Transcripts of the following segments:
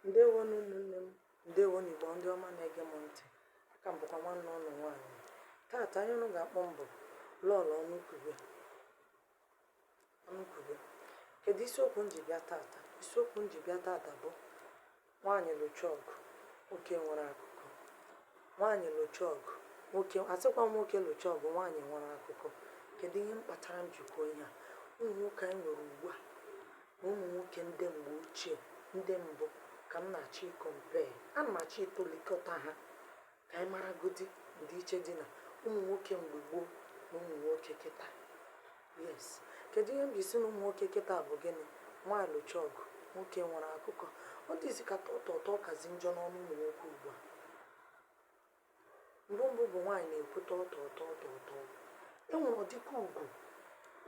Ndewo nụ ụmụnne m, ndewo nụ Igbo ndị ọma na-ege m ntị. Aka m bụkwa nwanne ụnụ nwaanyị. Taata ihe ụnụ ga-akpọ m bụ Lọọlọ Ọnụkwube. Kedu isiokwu m ji bịa taata? Isiokwu m ji bịa taata bụ nwaanyị lụcha ọgụ, nwoke nwere akụkọ. Nwaanyị lụcha ọgụ, nwoke asịkwa m nwoke lụcha ọgụ, nwaanyị nwere akụkọ. Kedu ihe m kpatara m ji kwuo ihe a? Ụmụ nwoke anyị nwere ugbu a na ụmụ nwoke ndị mgbe ochie ndị mbụ ka m na-achọ ịkọmpee ana m achọ ịtụlikọta ha ka anyị maragodi ndịiche dị na ụmụ nwoke mgbe gboo na ụmụ nwoke kịta yes kedu ihe m ji sị na ụmụ nwoke kịta bụ gịnị nwaanyị lụcha ọgụ nwoke nwere akụkọ ọ dịzi ka tọtọtọ ọ kazi njọ n'ọnụ ụmụ nwoke ugbu a mgbe mbụ bụ nwaanyị na-ekwu tọtọtọtọ e nwere ọdịka ugwu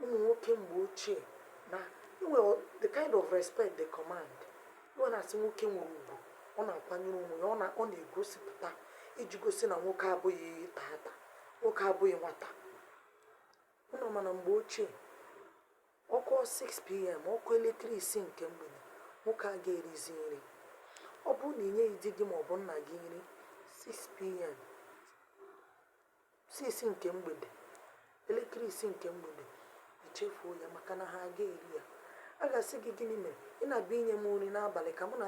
ụmụ nwoke mgbe ochie na-enwere the kind of respect they command e wee na-asị nwoke nwere ugwu ọ na-akwanyere onwe ya ọ na- ọ na-egosipụta iji gosi na nwoke abụghị tata nwoke abụghị nwata ụnụ ma na mgbe ochie Ọ kụọ 6pm, ọ kụọ elekere isii nke mgbede, nwoke aga erizi nri. Ọ bụrụ na ị nyeghị di gị ma ọ bụ nna gị nri 6pm, 6 nke mgbede, elekere isii nke mgbede, i chefuo ya maka na ha aga eri ya. A ga-asị gị gịnị mere ị na-abịa inye m nri n'abalị ka mụ na